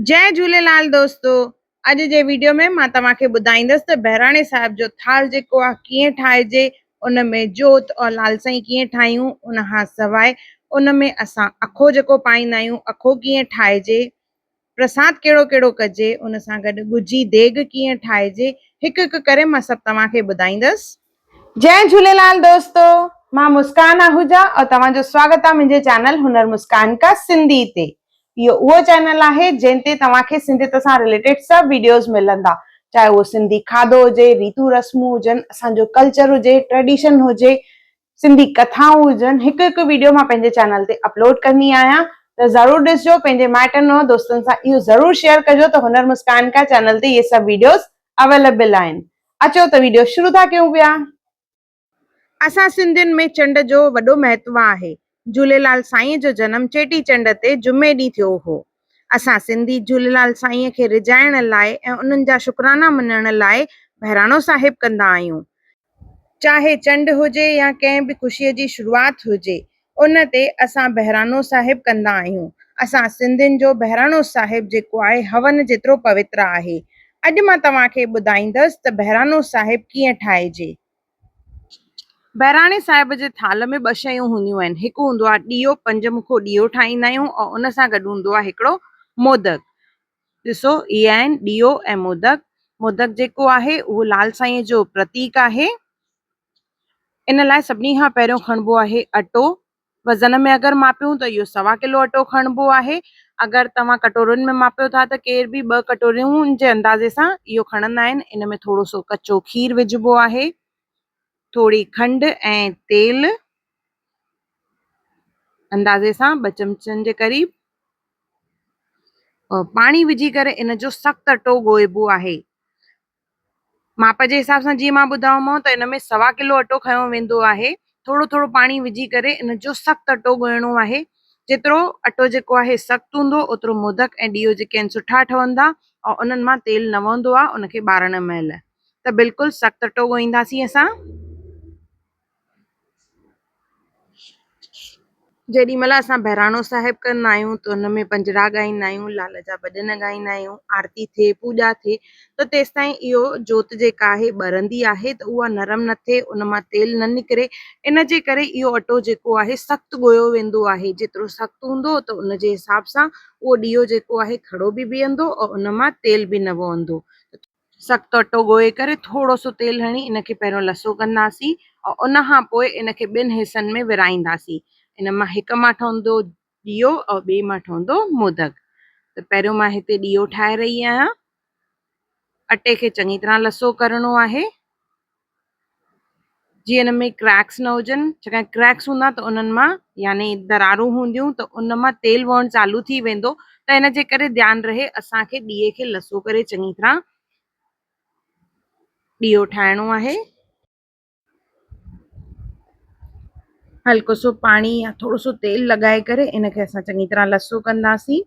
جئه جهوليلال دوستو اڄ جي ويڊيو ۾ مان توهان کي ٻڌائيندس ته بهراڻي صاحب جو ٿال جيڪو آهي ڪيئن ٺاهجي ان ۾ جوت اور لال سائين ڪيئن ٺاهيون ان کان سواء ان ۾ اسان اکو جيڪو پائيندا آهيون اکو ڪيئن ٺاهجي پرساد ڪهڙو ڪهڙو ڪجي ان سان گڏ ڳجهي ديڳ ڪيئن ٺاهجي هڪ هڪ ڪري مان سڀ توهان کي ٻڌائيندس جئي جھوليلال دوستو مان مسڪان آهوجا ۽ توهان جو سواگت آ منهنجي چينل هنر مسڪان ڪا سنڌي تي اهو اهو چينل آهي جنهن تي توهان کي سنڌيت سان رليٽيڊ سڀ ويڊيوز ملندا چاهي اهو سنڌي کاڌو هجي ريتون رسمون هجن اسان جو ڪلچر هجي ٽريڊيشن هجي سنڌي ڪٿائون هجن هڪ هڪ ويڊيو مان پنهنجي چينل تي اپلوڊ ڪندي آهيان ته ضرور ڏسجو پنهنجي مائٽن ۽ دوستن سان اهو ضرور شيئر ڪجو ته هنر مسڪان ڪا چينل تي اهي سڀ ويڊيوز اويليبل آهن اچو ته ويڊيو شروع ٿا ڪيون پيا. اسان سنڌين ۾ چنڊ جو وڏو مهتوا آهي. جهوليلال سائينء جو جنم چيٽي چنڊ تي جمعي ڏينهن ٿيو هو. اسان سنڌي جهوليلال سائينء کي رجائڻ لاء ۽ انهن جا شڪرانا مڃڻ لاء بهراڻو صاحب ڪندا آهيون. چاهي چنڊ هجي يا ڪنهن به خوشيء جي شروعات هجي، ان تي اسان بهراڻو صاحب ڪندا آهيون. اسان سنڌين جو بهراڻو صاحب جيڪو آهي هون جيترو پوتر آهي. اڄ مان توهان کي ٻڌائيندس ته بهراڻو صاحب ڪيئن ٺاهجي. بهراڻي صاحب جي ٿالهه ۾ ٻه شيون هونديون آهن، هڪ هوندو آهي ڏيئو، پنج مکو ڏيئو ٺاهيندا آهيون ۽ ان سان گڏ هوندو آهي هڪڙو مودڪ. ڏسو، اهي آهن ڏيئو ۽ مودڪ. مودڪ جيڪو آهي، اهو لال سائينء جو پرتيڪ آهي. ان لاء سڀني کان پهريون کڻبو آهي اٽو. وزن ۾ اگر ماپيون ته اهو سوا ڪلو اٽو کڻبو آهي. اگر توهان ڪٽورين ۾ ماپيو ٿا ته ڪير به ٻه ڪٽوريون جي اندازي سان اهو کڻندا آهن. ان ۾ ٿورو سو ڪچو کير وجهبو آهي، ٿوري کنڊ ۽ تيل. اندازي سان ٻه چمچن جي قريب پاڻي وجهي ڪري ان جو سخت اٽو ڳوئبو آهي ماپ جي حساب سان جيئن مان ٻڌايومانو ته ان ۾ سوا ڪلو اٽو کنيو ويندو آهي ٿورو ٿورو پاڻي وجهي ڪري ان جو سخت اٽو ڳوئڻو آهي جيترو اٽو جيڪو آهي سخت هوندو اوترو مودڪ ۽ ڏيئو جيڪي آهن سٺا ٺهندا ۽ انهن مان تيل نه وهندو آهي ان کي ٻارڻ مهل ته بلڪل سخت اٽو ڳوئينداسين اسان جيڏي مھل اسان بهراڻو صاحب ڪندا آهيون ته ان ۾ پنجڙا ڳائيندا آهيون لال جا ڀڄن ڳائيندا آهيون آرتي ٿئي پوڄا ٿئي ته تيستائين اهو جوت جيڪا آهي ٻرندي آهي ته اها نرم نه ٿئي ان مان تيل نه نڪري ان جي ڪري اهو اٽو جيڪو آهي سخت ڳويو ويندو آهي جيترو سخت هوندو ته ان جي حساب سان اهو ڏيئو جيڪو آهي کڙو به بيهندو ۽ ان مان تيل به نه وهندو سخت اٽو ڳوهي ڪري ٿورو سو تيل هڻي ان کي پهريون لسو ڪنداسين ۽ ان کان پوء ان کي ٻن حصن ۾ ورهائينداسين ان مان هڪ مان ٺهندو ڏيئو ۽ ٻئي مان ٺهندو موڌڪ ته پهريون مان هتي ڏيئو ٺاهي رهي آهيان اٽي کي چڱي طرح لسو ڪرڻو آهي جي ان ۾ ڪريڪس نه هجن جيڪڏهن ڪريڪس هوندا ته انهن مان يعني درارون هونديون ته ان مان تيل وهڻ چالو ٿي ويندو ته ان جي ڪري ڌيان رهي اسان کي ڏيئي کي لسو ڪري چڱي طرح ڏيئو ٺاهڻو آهي هلڪو سو پاڻي يا ٿورو سو تيل لڳائي ڪري ان کي اسان چڱي طرح لسو ڪنداسين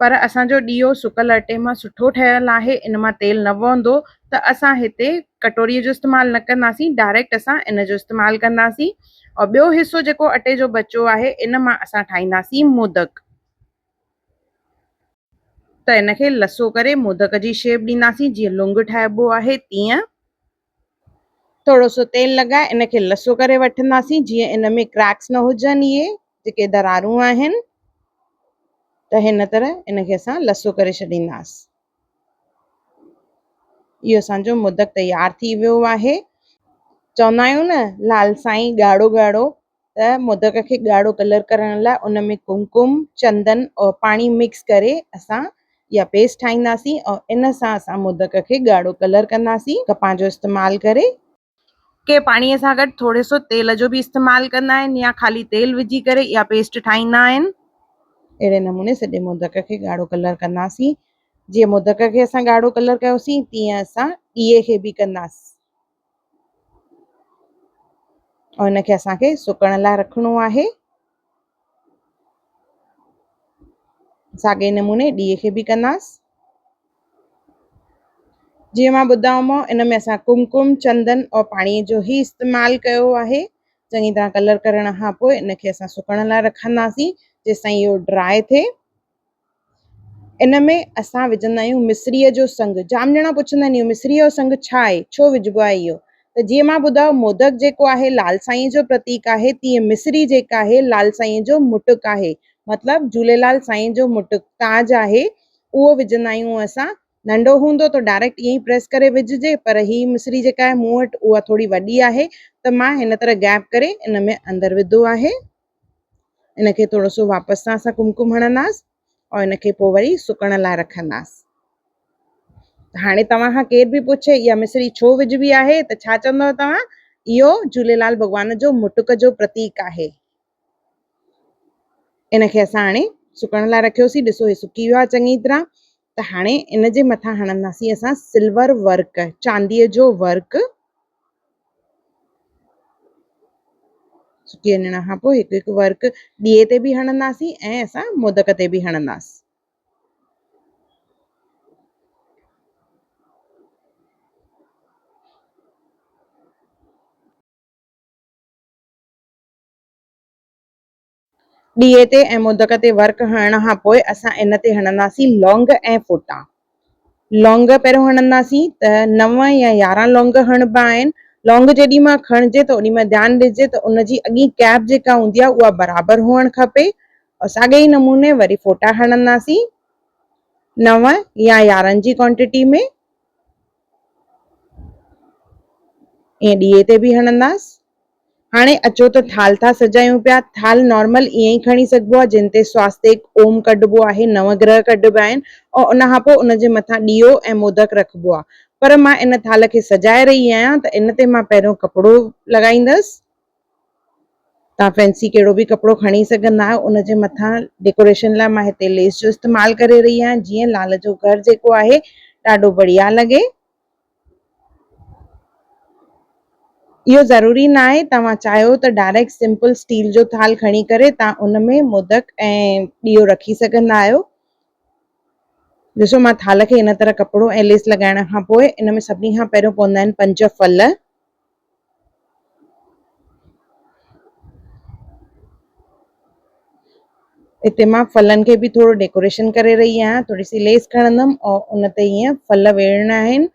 پر اسان جو ڏيئو سڪل اٽي مان سٺو ٺهيل آهي ان مان تيل نه وهندو ته اسان هتي ڪٽوري جو استعمال نه ڪنداسين ڊائريڪٽ اسان ان جو استعمال ڪنداسين ۽ ٻيو حصو جيڪو اٽي جو بچو آهي ان مان اسان ٺاهينداسين مودڪ ته ان کي لسو ڪري مودڪ جي شيپ ڏينداسين جيئن لونگ ٺاهبو آهي تيئن. ٿورو سو تيل لڳائي ان کي لسو ڪري وٺنداسين جيئن ان ۾ ڪريڪس نه هجن اهي جيڪي درارون آهن ته هن طرح ان کي اسان لسو ڪري ڇڏينداسين اهو اسانجو مدڪ تيار ٿي ويو آهي چوندا آهيون نه لال سائين ڳاڙهو ڳاڙهو ته مودڪ کي ڳاڙهو ڪلر ڪرڻ لاء ان ۾ ڪمڪم، چندن ۽ پاڻي مڪس ڪري اسان اها پيسٽ ٺاهينداسين ۽ ان سان اسان مودڪ کي ڳاڙهو ڪلر ڪنداسين ڪپهه جو استعمال ڪري. ڪي پاڻي سان گڏ ٿوري سو تيل جو به استعمال ڪندا آهن يا خالي تيل وجهي ڪري اها پيسٽ ٺاهيندا آهن. اهڙي نموني سڄي مودڪ کي ڳاڙهو ڪلر ڪنداسين. جيئن مودڪ کي اسان ڳاڙهو ڪلر ڪيوسين تيئن اسان ڏيئي کي به ڪنداسين. ۽ ان کي اسان کي سڪڻ لاء رکڻو آهي ساڳي نموني ڏيئي کي به ڪنداس جيئن مان ٻڌايومو ان ۾ اسان ڪمڪم چندن او پاڻي جو هي استعمال ڪيو آهي چڱي طرح ڪلر ڪرڻ کان پوء ان کي اسان سڪڻ لاء رکنداسين جيسين اهو ڊرائي ٿئي ان ۾ اسان وجهندا آهيون مصريء جو سنگ. جام ڄڻا پڇندا آهن، اهو مصريء جو سنگ ڇا آهي؟ ڇو وجهبو آهي اهو؟ ته جيئن مان ٻڌايو، موڌڪ جيڪو آهي، لال سائينء جو پرتيڪ آهي، تيئن مصري جيڪا آهي، لال سائينء جو مٽڪ آهي. مطلب جهوليلال سائين جو مٽڪ، تاج، آهي، اهو وجهندا آهيون اسان. ننڍو هوندو ته ڊائريڪٽ ائين ئي پريس ڪري وجهجي، پر هيء مصري جيڪا آهي مون وٽ، اها ٿوري وڏي آهي، ته مان هن طرح گئپ ڪري ان ۾ اندر وڌو آهي. ان کي ٿورو سو واپس سان اسان ڪمڪم هڻنداس ۽ ان کي پوء وري سڪڻ لاء رکنداس هاڻي توهان کان ڪير به پڇي اها مصري ڇو وجهبي آهي ته ڇا چوندو توهان اهو جهوليلال ڀڳوان جو مٽڪ جو پرتيڪ آهي ان کي اسان هاڻي سڪڻ لاء رکيوسي ڏسو هي سڪي ويو آهي چڱي طرح ته هاڻي ان جي مٿان هڻنداسي اسان سلور ورڪ چانديء جو ورڪ سڪي هڻڻ کان پوء هڪ هڪ ورق ڏيئي تي به هڻنداسين ۽ اسان مودڪ تي به هڻنداسين ڏيئي تي ۽ مودڪ تي ورق هڻڻ کان پوء اسان ان تي هڻنداسين لونگ ۽ ڦوٽا. لونگ پهريون هڻنداسين ته نو يا يارهن لونگ هڻبا آهن. لونگ جيڏي مهل کڻجي ته اوڏي مهل ڌيان ڏجي ته ان جي اڳين ڪيپ جيڪا هوندي آهي اها برابر هئڻ کپي. ساڳئي ئي نموني وري ڦوٽا هڻنداسين نو يا يارهن جي ڪوانٽيٽي ۾. ائين ڏيئي تي به هڻنداس. هاڻي اچو ته ٿال ٿا سجايون پيا. ٿال نارمل ائين ئي کڻي سگهبو آهي جنهن تي سواستيڪ، اوم، ڪڍبو آهي، نو گرهه ڪڍبا آهن ۽ ان کان پوء ان جي مٿان ڏيئو ۽ مودڪ رکبو آهي. پر مان ان ٿال کي سجائي رهي آهيان ته ان تي مان پهريون ڪپڙو لڳائيندس. تان فينسي ڪهڙو به ڪپڙو کڻي سگهندا آهيو ان جي مٿان ڊيڪوريشن لاء مان هتي ليس جو استعمال ڪري رهي آهيان جيئن لال جو گهر جيڪو آهي ڏاڍو بڙيا لڳي اهو ضروري نه آهي توهان چاهيو ته ڊائريڪٽ سمپل اسٽيل جو ٿال کڻي ڪري تان ان ۾ مدڪ ۽ ڏيئو رکي سگهندا آهيو ڏسو مان ٿال کي ان طرح ڪپڙو ۽ ليس لڳائڻ کان پوء ان ۾ سڀني کان پهريون پوندا آهن پنج ڦل اتي مان ڦلن کي به ٿورو ڊيڪوريشن ڪري رهي آهيان ٿوري سي ليس کڻندم او ان تي ائين ڦل ويڙهڻا آهن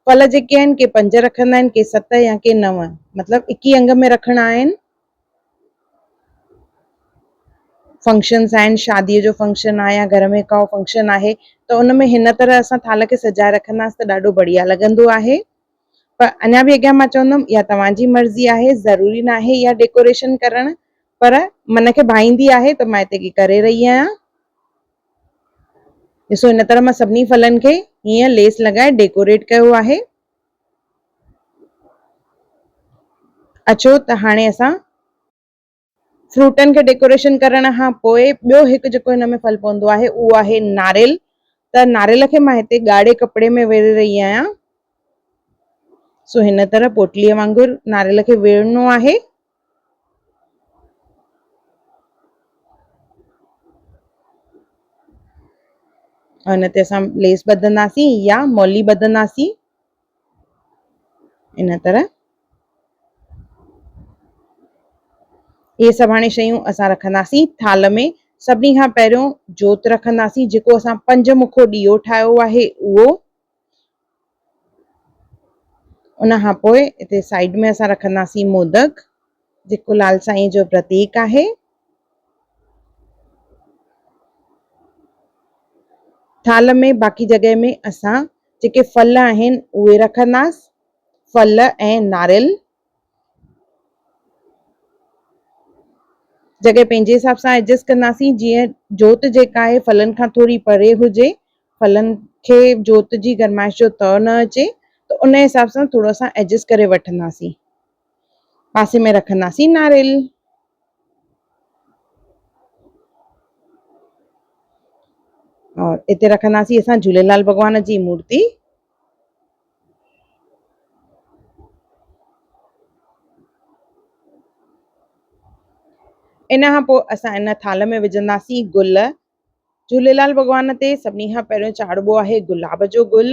ڦل جيڪي آهن ڪي پنج رکندا آهن ڪي ست يا ڪي نو مطلب اڪي انگ ۾ رکڻا آهن فنڪشنس آهن شادي جو فنڪشن آهي يا گهر ۾ ڪا فنڪشن آهي ته ان ۾ هن طرح اسان ٿال کي سجائي رکنداسين ته ڏاڍو بڙيا لڳندو آهي پر اڃا به اڳيان مان چوندم اها توهان جي مرضي آهي ضروري ناهي اها ڊيڪوريشن ڪرڻ پر من کي ڀائيندي آهي ته مان هتي ڪري رهي آهيان ڏسو هن طرح مان سڀني ڦلن کي هيئن ليس لڳائي ڊيڪوريٽ ڪيو آهي اچو ته هاڻي اسان فروٽن کي ڊيڪوريشن ڪرڻ کان پوء ٻيو هڪ جيڪو هن ۾ ڦل پوندو آهي اهو آهي ناريل ته ناريل کي مان هتي ڳاڙهي ڪپڙي ۾ ويڙهي رهي آهيان سو هن طرح پوٽلي وانگر ناريل کي ويڙهڻو آهي ان تي اسان ليس ٻڌنداسين يا مولي ٻڌنداسين ان طرح اهي سڀ هاڻي شيون اسان رکنداسين ٿال ۾ سڀني کان پهريون جوت رکنداسين جيڪو اسان پنج مکو ڏيئو ٺاهيو آهي اهو ان کان پوء هتي سائيڊ ۾ اسان رکنداسين مودڪ جيڪو لال سائين جو پرتيڪ آهي. ٿالهه ۾ باقي جڳهه ۾ اسان جيڪي ڦل آهن اهي رکنداس ڦل ۽ ناريل جڳهه پنهنجي حساب سان ايڊجسٽ ڪنداسين جيئن جوت جيڪا آهي ڦلن کان ٿوري پري هجي ڦلن کي جوت جي گرمائش جو تئو نه اچي ته ان حساب سان ٿورو اسان ايڊجسٽ ڪري وٺنداسين. پاسي ۾ رکنداسين ناريل. اور اتي رکنداسين اسان جھوليلال ڀڳوان جي مورتي. ان کان پوء اسان ان ٿال ۾ وجھنداسين گل جھوليلال ڀڳوان تي سڀني کان پهريون چاڙهبو آهي گلاب جو گل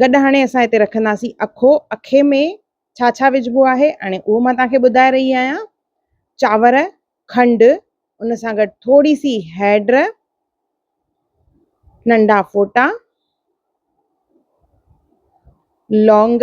گڏ هاڻي اسان هتي رکنداسين اکو اکي ۾ ڇا ڇا وجهبو آهي هاڻي اهو مان توهان کي ٻڌائي رهي آهيان چانور کنڊ ان سان گڏ ٿوري سي هيڊ ننڍا ڦوٽا لونگ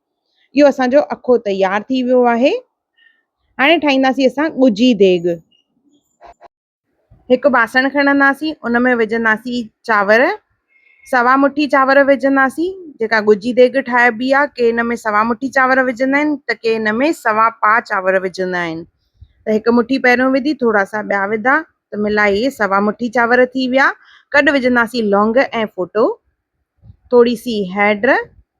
اهو اسان جو اکو تيار ٿي ويو آهي هاڻي ٺاهينداسين اسان ڳجهي ديڳ. هڪ باسڻ کڻنداسين ان ۾ وجهنداسين چانور سوا مٺي چانور وجهنداسين جيڪا ڳجهي ديڳ ٺاهبي آهي ڪي ان ۾ سوا مٺي چانور وجهندا آهن ته ڪي ان ۾ سوا پاء چانور وجهندا آهن ته هڪ مٺي پهريون وڌي ٿورا سا ٻيا وڌا ته ملائي اهي سوا مٺي چانور ٿي ويا ڪڏ وجهنداسين لونگ ۽ ڦوٽو ٿوري سي هيڊ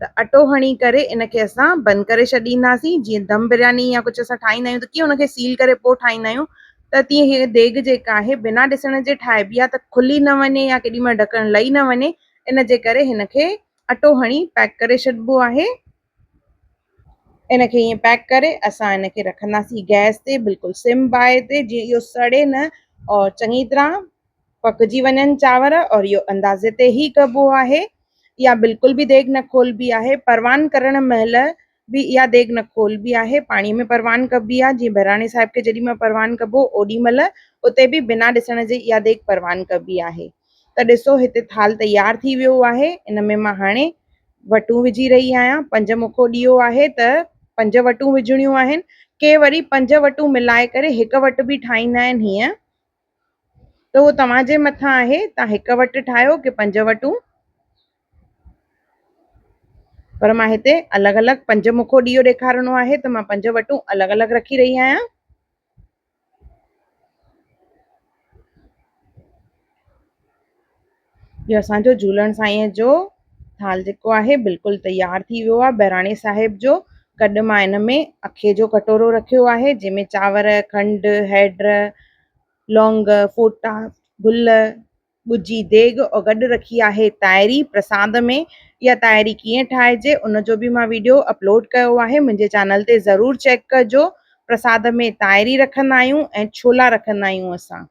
ته اٽو هڻي ڪري ان کي اسان بند ڪري ڇڏينداسين جيئن دم برياني يا ڪجهه اسان ٺاهيندا آهيون ته ڪيئن ان کي سيل ڪري پوء ٺاهيندا آهيون ته تيئن هيء ديڳ جيڪا آهي بنا ڏسڻ جي ٺاهبي آهي ته کلي نه وڃي يا ڪيڏي مهل ڍڪڻ لهي نه وڃي ان جي ڪري هن کي اٽو هڻي پيڪ ڪري ڇڏبو آهي. ان کي ائين پيڪ ڪري اسان ان کي رکنداسين گئس تي بلڪل سم باهه تي جيئن اهو سڙي نه اور چڱي طرح پکجي وڃن چانور اور اهو اندازي تي ئي ڪبو آهي يا بلڪل به ديڳ نه کولبي آهي پروان ڪرڻ مهل به اها ديڳ نه کولبي آهي پاڻي ۾ پروان ڪبي آهي جيئن بهراڻي صاحب کي جيڏي مهل پروان ڪبو اوڏي مهل اتي به بنا ڏسڻ جي اها ديڳ پروان ڪبي آهي ته ڏسو هتي ٿال تيار ٿي ويو آهي ان ۾ مان هاڻي وٽون وجهي رهي آهيان پنج مکو ڏيئو آهي ته پنج وٽون وجهڻيون آهن ڪي وري پنج وٽون ملائي ڪري هڪ وٽ به ٺاهيندا آهن هيئن ته اهو توهان جي مٿان آهي توهان هڪ وٽ ٺاهيو ڪي پنج وٽون پر مان هتي الڳ الڳ پنج مکو ڏيئو ڏيکارڻو آهي ته مان پنج وٽون الڳ الڳ رکي رهي آهيان جو اسان جو جهولڻ سائينء جو ٿال جيڪو آهي بلڪل تيار ٿي ويو آهي بهراڻي صاحب جو گڏ مان ان ۾ اکي جو ڪٽورو رکيو آهي جنهن ۾ چانور کنڊ هيڊ لونگ ڦوٽا گل ڳجهي ديڳ او گڏ رکي آهي تائري پرساد ۾ يا تائري ڪيئن ٺاهجي ان جو به مان ويڊيو اپلوڊ ڪيو آهي منهنجي چينل تي ضرور چيڪ ڪجو پرساد ۾ تائري رکندا آهيون ۽ ڇولا رکندا آهيون اسان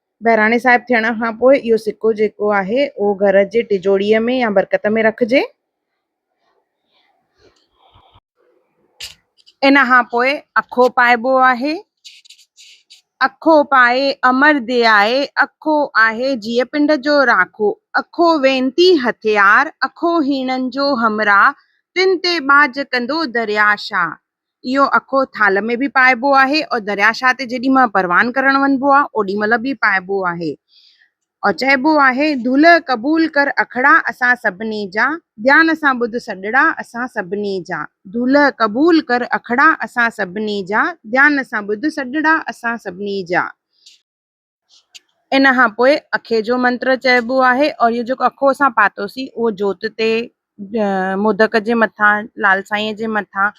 بهراڻي صاحب ٿيڻ کان پوء اهو سڪو جيڪو آهي اهو گهر جي ٽجوڙيء ۾ يا برڪت ۾ رکجي. ان کان پوء اکو پائبو آهي. اکو پائي امر ديائي اکو آهي جيء پنڊ جو راکو، اکو وينتي هٿيار، اکو هيڻن جو همراهه، تن تي ٻاجهه ڪندو درياء شاهه. اهو اکو ٿالهه ۾ به پائبو آهي ۽ درياء شاهه تي جيڏي مهل پروان ڪرڻ وڃبو آهي اوڏي مهل به پائبو آهي ۽ چئبو آهي، دولهه قبول ڪر اکڙا اسان سڀني جا، ڌيان سان ٻڌ سڏڙا اسان سڀني جا، دولهه قبول ڪر اکڙا اسان سڀني جا، ڌيان سان ٻڌ سڏڙا اسان سڀني جا. ان کان پوء اکي جو منتر چئبو آهي ۽ اهو جيڪو اکو اسان پاتوسين اهو جوت تي مودڪ جي مٿان لال سائينء جي مٿان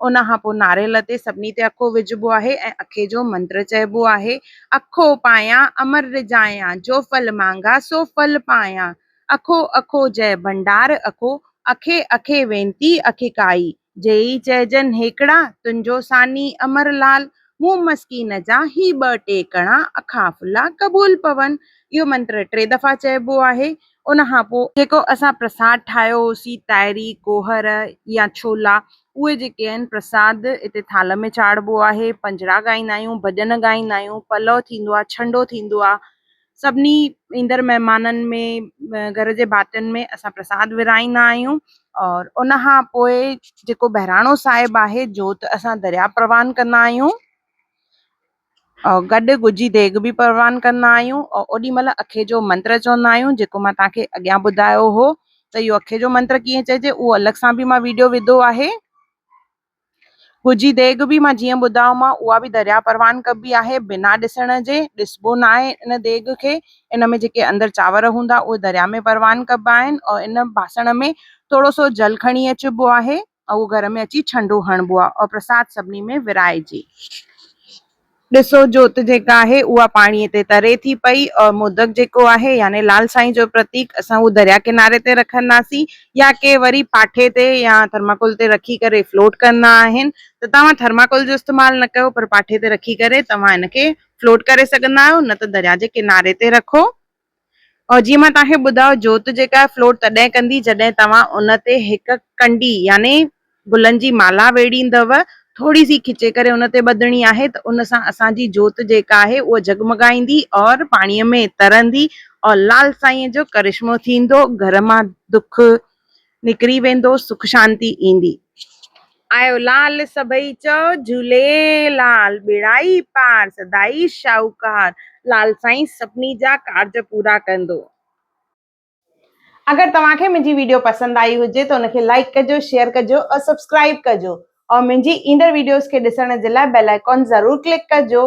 ان کان پوء ناريل تي سڀني تي اکو وجهبو آهي ۽ اکي جو منتر چئبو آهي، اکو پايان امر رجايان، جو ڦل مانگا سو ڦل پايان، اکو اکو جئه ڀنڊار اکو، اکي اکي وينتي اکي ڪائي، جي ئي چئجن هيڪڙا، تنهنجو ثاني امر لال، مون مسڪين جا هي ٻه ٽي ڪڻا، اخاف الله، قبول پون. اهو منتر ٽي دفعا چئبو آهي. ان کان پوء. جيڪو اسان پرساد ٺاهيو هوسين، تائري، ڪوهر يا ڇولا، اهي جيڪي آهن پرساد، اتي ٿالهه ۾ چاڙهبو آهي. پنجڙا ڳائيندا آهيون، ڀڄن ڳائيندا آهيون، پلئو ٿيندو آهي، ڇنڊو ٿيندو آهي، سڀني ايندڙ مهمانن ۾ گهر جي ڀاتين ۾ اسان پرساد ورهائيندا آهيون اور ان کان پوء جيڪو بهراڻو صاحب آهي جوت اسان درياء پروان ڪندا آهيون اور گڏ ڳجهي ديڳ به پروان ڪندا آهيون اور اوڏي مهل اکي جو منتر چوندا آهيون جيڪو مان توهان کي اڳيان ٻڌايو هو ته اهو اکي جو منتر ڪيئن چئجي اهو الڳ سان به مان ويڊيو وڌو آهي. ڳجهي ديڳ به مان جيئن ٻڌايومانء، اها به درياء پروان ڪبي آهي، بنا ڏسڻ جي، ڏسبو نه آهي ان ديڳ کي، ان ۾ جيڪي اندر چانور هوندا، اهي درياء ۾ پروان ڪبا آهن ۽ ان باسڻ ۾ ٿورو سو جل کڻي اچبو آهي ۽ اهو گهر ۾ اچي ڇنڊو هڻبو آهي ۽ پرساد سڀني ۾ ورهائجي. ڏسو جوت جيڪا آهي اها پاڻيء تي تري ٿي پئي اور مودڪ جيڪو آهي يعني لال سائين جو پرتيڪ اسان اهو درياء ڪناري تي رکنداسين يا ڪي وري پاٺي تي يا ٿرماڪول تي رکي ڪري فلوٽ ڪندا آهن ته توهان ٿرماڪول جو استعمال نه ڪيو پر پاٺي تي رکي ڪري توهان ان کي فلوٽ ڪري سگهندا آهيو نه ته درياء جي ڪناري تي رکو او جي مان توهان کي ٻڌاء جوت جيڪا فلوٽ تڏهن ڪندي جڏهن توهان ان تي هڪ ڪنڊي يعني گلن جي مالها ويڙهيندؤ ٿوري سي کچي ڪري ان تي ٻڌڻي آهي ته ان سان اسان جي جوت جيڪا آهي اها جڳمڳائيندي اور پاڻي ۾ ترندي اور لال سائين جو ڪرشمو ٿيندو گهر مان دک نڪري ويندو سک شانتي ايندي. آيو لال سڀئي چئو جهوليلال ٻيڙائي پار سدائي شاهوڪار لال سائين سڀني جا ڪارج پورا ڪندو. اگر توهان کي منهنجي ويڊيو پسند آئي هجي ته ان کي لائيڪ ڪجو شيئر ڪجو اور سبسڪرائيب ڪجو اور منهنجي ايندڙ ويڊيوز کي ڏسڻ جي لاء بيل آئيڪون ضرور ڪلڪ ڪجو